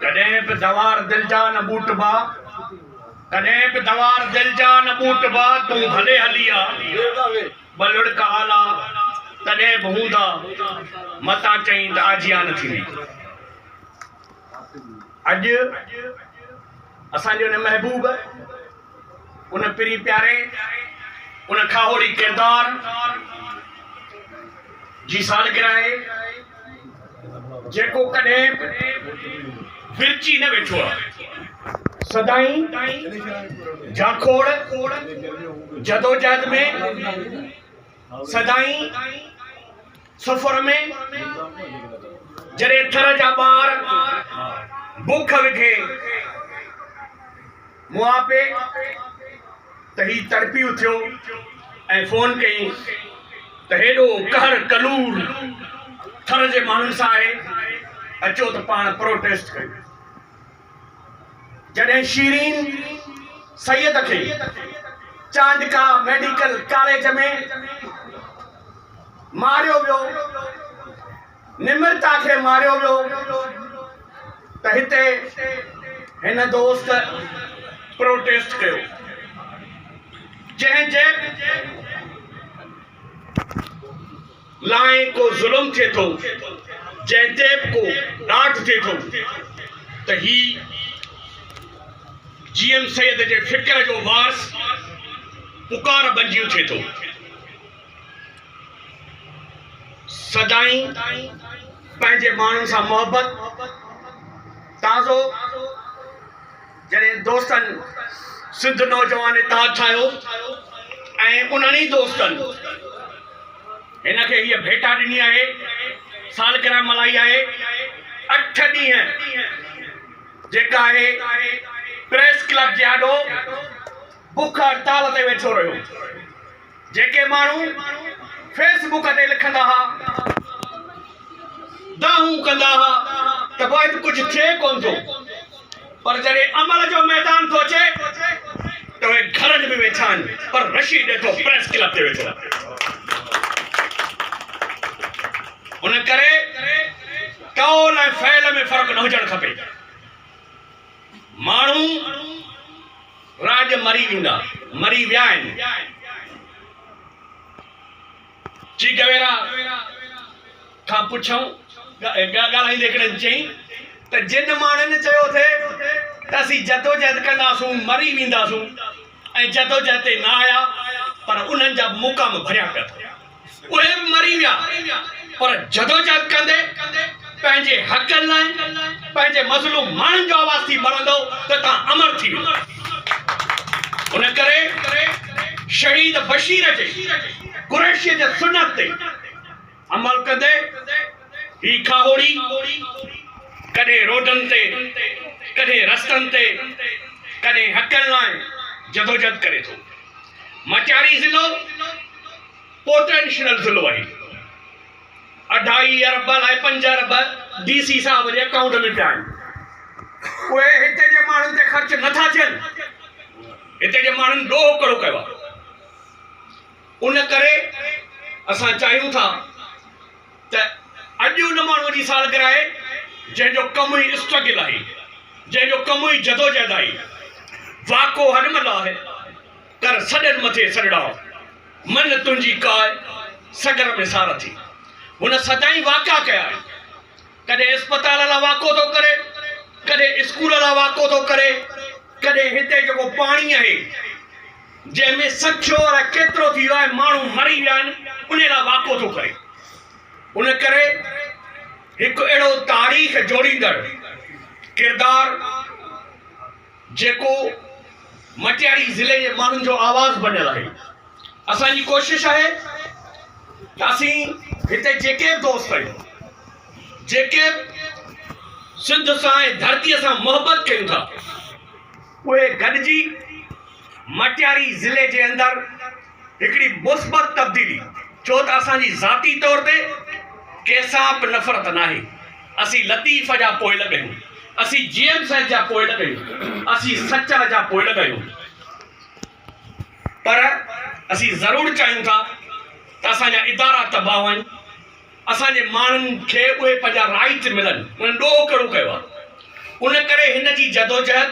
ڪڏهن به دوار دل جا نه ٻوٽبا ڪڏهن به دوار دل جا نه ٻوٽبا تون ڀلي هلي آ ٻه لڙڪ آلا تڏهن به هوندا متان چئين ته آجيان نه ٿيندي اڄ اسان جو هن محبوب ان پرين پياري، ان کاهوڙي ڪردار جي سالگرهه آهي، جيڪو ڪڏهن به ورچي نه ويٺو آهي. سدائين جاکوڙ جدوجهد ۾، سدائين سفر ۾ جڏهن ٿر جا ٻار بک وگهي مون آ پي ته هي تڙپي اٿيو ۽ فون ڪيائين ته هيڏو قهر ڪلور ٿر جي ماڻهن سان آهي اچو ته پاڻ پروٽيسٽ ڪيون. جڏهن شيرين سيد کي چانڊڪا ميڊيڪل ڪاليج ۾ ماريو ويو، نمرتا کي ماريو ويو ته هتي هن دوست پروٽيسٽ ڪيو، جنهن جي. لاء ڪو ظلم ٿئي ٿو، جنهن تي به ڪو ڏاڍ ٿئي ٿو ته هي جي ايم سيد جي فڪر جو وارث پڪار بنجي اٿي ٿو. سدائين پنهنجي ماڻهن سان محبت، تازو. جڏهن دوستن سنڌ نوجوان اتحاد ٺاهيو ۽ انهن ئي دوستن هن کي هيء ڀيٽا ڏني آهي، سالگرهه ملهائي آهي، اٺ ڏينهن، جيڪا آهي پريس ڪلب جي آڏو بک هڙتال تي ويٺو رهيو. جيڪي ماڻهو فيس بڪ تي لکندا ها دانهون ڪندا ها ته واحد ڪجهه ٿئي ڪون ٿو پر جڏهن عمل جو ميدان ٿو اچي ته اهي گهرن ۾ ويٺا آهن پر رشيد ڏٺو پريس ڪلب تي ويٺو ان ڪري قول ۽ فعل ۾ فرق نه هجڻ کپي ماڻهو راڄ مري ويندا، مري ويا آهن. چي گويرا کان پڇيائون ڳالهائيندي هڪڙي چيائين ته جن ماڻهن چيو ٿي ته اسين جدوجهد ڪنداسون، مري وينداسون ۽ جدوجهد تي نه آيا پر انهن جا مقام ڀريا پيا اٿن. اهي به مري ويا پر جدوجهد ڪندي پنهنجي حقن لاء پنهنجي مظلوم ماڻهن جو آواز ٿي مرندؤ ته توهان امر ٿي ويندا ان ڪري شهيد بشير جي قريشيء جي سنت تي عمل ڪندي هي کاهوڙي ڪڏهن روڊن تي ڪڏهن رستن تي ڪڏهن حقن لاء جدوجهد ڪري ٿو. مٽياري ضلعو پوٽينشل ضلعو آهي، اڍائي ارب لاء پنج ارب ڊي سي صاحب جي اڪائونٽ ۾ پيا آهن، اهي هتي جي ماڻهن تي خرچ نه ٿا ٿين، هتي جي ماڻهن ڏوهه ڪڙو ڪيو آهي، ان ڪري اسان چاهيون ٿا. ته اڄ ان ماڻهوء جي سالگرهه آهي، جنهن جو ڪم ئي اسٽرگل آهي، جنهن جو ڪم ئي جدوجهد آهي. واڪو هن مهل آهي، ڪر سڏن مٿي سڏڙاء، من تنهنجي ڪاء سڳر ۾ سارٿي. هن سدائين واڪا ڪيا آهن. ڪڏهن اسپتال لاء واڪو ٿو ڪري، ڪڏهن اسڪول لاء واڪو ٿو ڪري، ڪڏهن هتي جيڪو پاڻي آهي، جنهن ۾ سکيو الاء ڪيترو ٿي ويو آهي، ماڻهو مري ويا آهن، انهي لاء واڪو ٿو ڪري. ان ڪري هڪ اهڙو تاريخ جوڙيندڙ ڪردار جيڪو مٽياري ضلعي جي ماڻهن جو آواز بنيل آهي. اسان جي ڪوشش آهي ته اسين هتي جيڪي به دوست آهيون، جيڪي به سنڌ سان ۽ ڌرتي سان محبت ڪيون ٿا، اهي گڏجي مٽياري ضلعي جي اندر هڪڙي مثبت تبديلي ڇو ته اسان جي ذاتي طور تي ڪنهن سان به نفرت ناهي اسين لطيف جا پوئلڳ آهيون اسين جي ايم سيد جا پوئلڳ آهيون اسين سچل جا پوئلڳ آهيون پر اسين ضرور چاهيون ٿا ته اسان جا ادارا تباهه آهن اسان جي ماڻهن کي اهي پنهنجا رائيٽ ملن انهن ڏوهه ڪڙو ڪيو آهي ان ڪري هن جي جدوجهد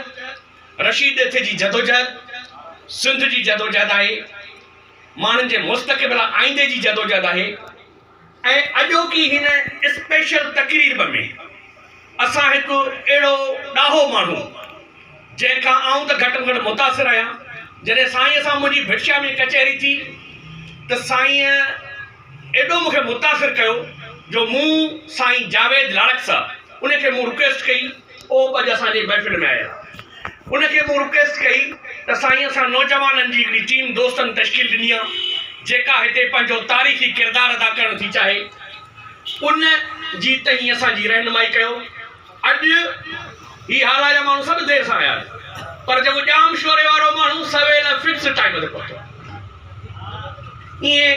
رشيد ڏيٿي جي جدوجهد سنڌ جي جدوجهد آهي، ماڻهن جي مستقبل آئيندي جي جدوجهد آهي ۽ اڄوڪي هن اسپيشل تقريرب ۾ اسان هڪ اهڙو ڏاهو ماڻهو جنهن کان آئون ته گهٽ ۾ گهٽ متاثر آهيان جڏهن سائينء سان منهنجي ڀٽشاهه ۾ ڪچهري ٿي ته سائينء ايڏو مونکي متاثر ڪيو جو مون سائين جاويد لاڙڪسا ان کي مون رڪويسٽ ڪئي اهو به اڄ اسان جي محفل ۾ آيل آهي ان کي مون رڪويسٽ ڪئي ته سائين اسان نوجوانن جي هڪڙي ٽيم دوستن تشڪيل ڏني آ جيڪا هتي پنهنجو تاريخي ڪردار ادا ڪرڻ ٿي چاهي ان جي تهين اسان جي رهنمائي ڪيو اڄ هي هارا جا ماڻهو سڀ دير سان آيا پر جيڪو ڄام شوري وارو ماڻهو سويل ۽ فڪس ٽائيم تي پهتو. ائين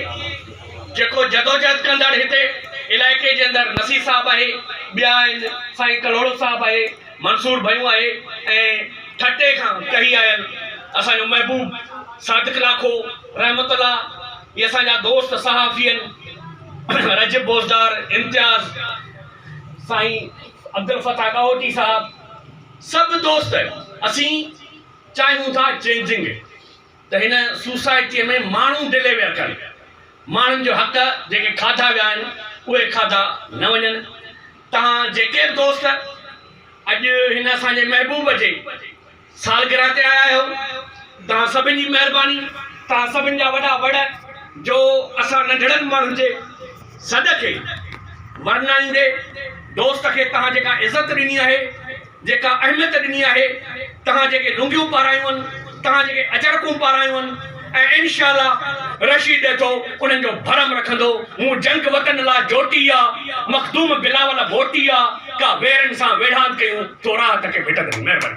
جيڪو جدوجهد ڪندڙ هتي علائقي جي اندر نصير صاحب آهي، ٻيا آهن سائين ڪلهوڙو صاحب آهي، منصور ڀيون آهي ۽ ٺٽي کان ڪهي آيل اسان جو محبوب صادق لاکو رحمت الله هي اسان جا دوست صحافين رجب بوزدار، امتياز. سائين عبدالفتاح ڏاهوٽي صاحب سڀ دوست اسين چاهيون ٿا چينجنگ ته هن سوسائٽيء ۾ ماڻهو ڊليويئر ڪن ماڻهن جو حق جيڪي کاڌا ويا آهن اهي کاڌا نه وڃن توهان جيڪي به دوست اڄ هن اسان جي محبوب جي سالگرهه تي آيا آهيو توهان سڀن جي مهرباني توهان سڀن جا وڏا وڙ جو اسان ننڍڙن ماڻهن جي سڏ کي ورنائيندي دوست کي توهان جيڪا عزت ڏني آهي جيڪا اهميت ڏني آهي توهان جيڪي لونگيون پارايون آهن توهان جيڪي اجرڪون پارايون آهن ۽ انشاء الله رشيد ڏيٿو انهن جو ڀرم رکندو. مون جنگ وطن لا جوٽي آ، مخدوم بلاول ڀوٽي آ، ڪا ويرن سان ويڙهاند ڪيون، ٿو راهه تڪي ڀٽندري. مهرباني.